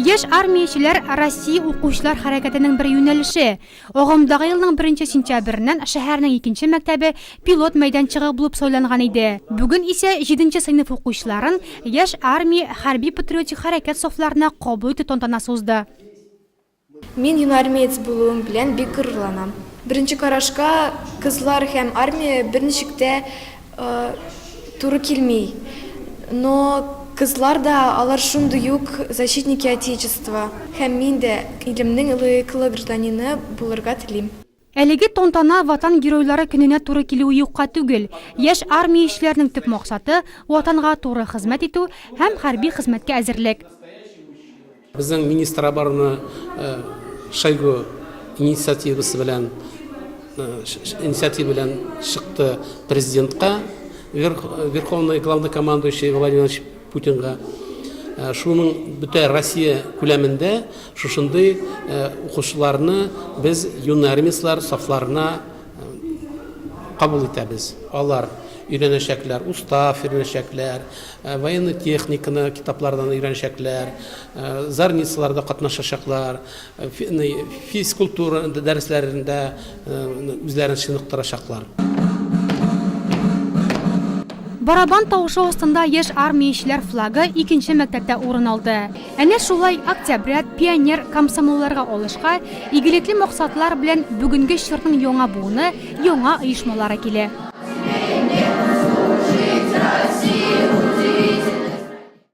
Яшь армиячеләр Россия укучылар хәрәкәтенең бер юнәлеше. Агымдагы елның беренче сентябреннән шәһәрнең икенче мәктәбе пилот мәйданчыгы булып сайланган иде. Бүген исә җиденче сыйныф укучыларын Яшь армия хәрби-патриотик хәрәкәт сафларына кабул итү тантанасы узды. Мин юнармеец булуым белән бик горурланам. Беренче карашка, кызлар һәм армия берничек тә туры килми. Но кызлар да, алар шундый ук защитники Отечества. Һәм мин дә илемнең лаеклы гражданины булырга телим. Әлеге тантана Ватан Геройлары көненә туры килүе юкка түгел. Яшь армиячеләрнең төп максаты, Ватанга туры хезмәт итү һәм хәрби хезмәткә әзерлек. Безнең министр обороны Шойгу инициативасы белән инициатива белән чыкты президентка, Верховный Главнокомандующий Владимир Владимирович Путинга шуның бөтә Россия күләмендә шушындый укучыларны без юный армистлар сафларына кабул итәбез. Алар өйрәнәчәкләр, устав өйрәнәчәкләр, военный техниканы китаплардан өйрәнәчәкләр, зарницаларда катнашачаклар, Физкультура дәресләрендә үзләрен чыныктырачаклар. Барабан тавышы астында яшь армиячеләр флагы икенче мәктәптә урын алды. Әнә шулай октябрят, пионер, комсомолларга алышка, игелекле максатлар белән бүгенге чорның яңа буыны, яңа оешмалары килә.